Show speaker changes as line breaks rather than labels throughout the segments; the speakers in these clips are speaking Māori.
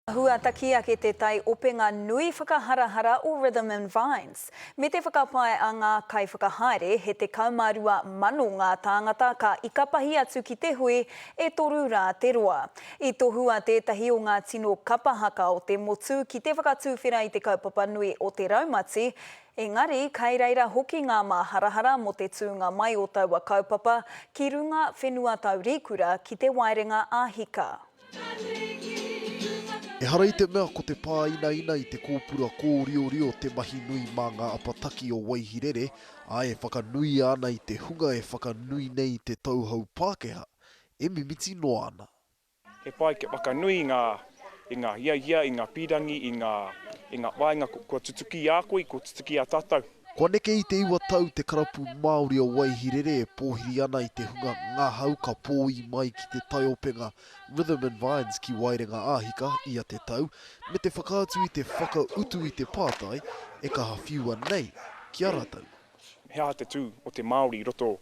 Huataki ake te tai openga nui whakaharahara o Rhythm and Vines. Me te whakapae a ngā kaiwhakahaere, he 12,000 ngā tāngata ka ikapahi atu ki te hui, e toru rā te roa. I tohua tētahi o ngā tino kapa haka o te motu ki te whakatuwhera i te kaupapa nui o te raumati, engari kai reira hoki ngā māharahara mō te tūnga mai o taua kaupapa ki runga whenua taurikura ki te waerenga ā-hika.
Ehara i te mea ko te pāinaina i te kōpura kōriorio te mahi nui mā ngā apataki o Waihirere, ā, e whakanuia ana i te hunga e whakanui nei te tauhou Pākehā, e mimiti noa ana. He pai kia
whakanui i ngā i ngā hiahia, i ngā pīrangi, i ngā i ngā whāinga kua tutuki i a koe, kua tutuki i a tātou. Kua neke i te iwa
tau te karapu Māori o Waihirere e pōhiri ana i te hunga ngahau ka pōī mai ki te taiopenga Rhythm and Vines ki Waerenga Āhika ia te tau, me te whakaatu i te whakautu i te pātai e kaha whiua nei ki a rātou. He aha te tū
o te Māori i roto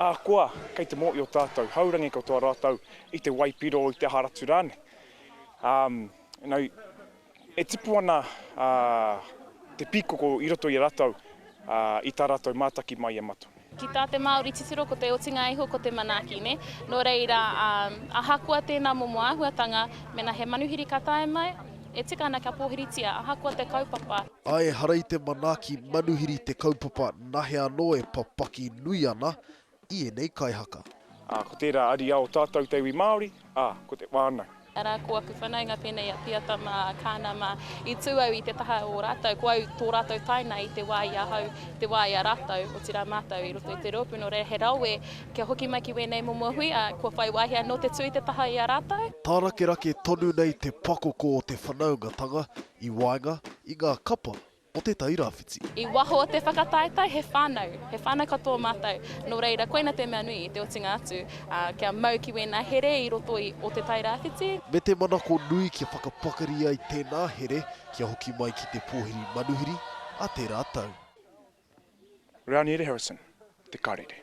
Ahakoa
kei te mōhio tātou, haurangi katoa rātou i te waipiro, i te aha ratu rānei. You know, e tipu ana te pīkoko i roto i a rātou i tā rātou mātaki mai a Matua. Ki tā te Māori
titiro ko te otinga iho ko te manaaki, nē? Nō reira, ahakoa tēnā momo āhuatanga, mēnā he manuhiri ka tae mai, e tika ana kia pōhiritia, ahakoa te kaupapa. A ehara i te
manaaki manuhiri te kaupapa nahea anō e papaki nui ana i ēnei kaihaka. Ā, ko tērā
ariā o tātou te iwi Māori, ā, ko te whānau. Arā, ko aku whanaunga
pēnei a Piata mā, Kāna mā. I tū au i te taha o ō rātou, ko au tō rātou taina i te wā i ahau, te wā i a rātou, otirā mātou i roto i te rōpū nō reira he rawe kia hoki mai ki wēnei momo hui, ā, kua whai wāhi anō te tū i te taha i a rātou. Tārakerake
tonu nei te pakoko o te whanaungatanga I waenga i ngā kapa o Te Tai Rāwhiti. I waho o te
whakataetae he whānau, he whānau katoa mātou, nō reira koina te mea nui i te otinga atu, ā, kia mau ki wēnā here i roto i o Te Tai Rāwhiti. Me te manako
nui kia whakapakari ai tēnā here kia hoki mai ki te pōhiri manuhiri a tērā tau. Rāniere Harrison,
Te
Karere.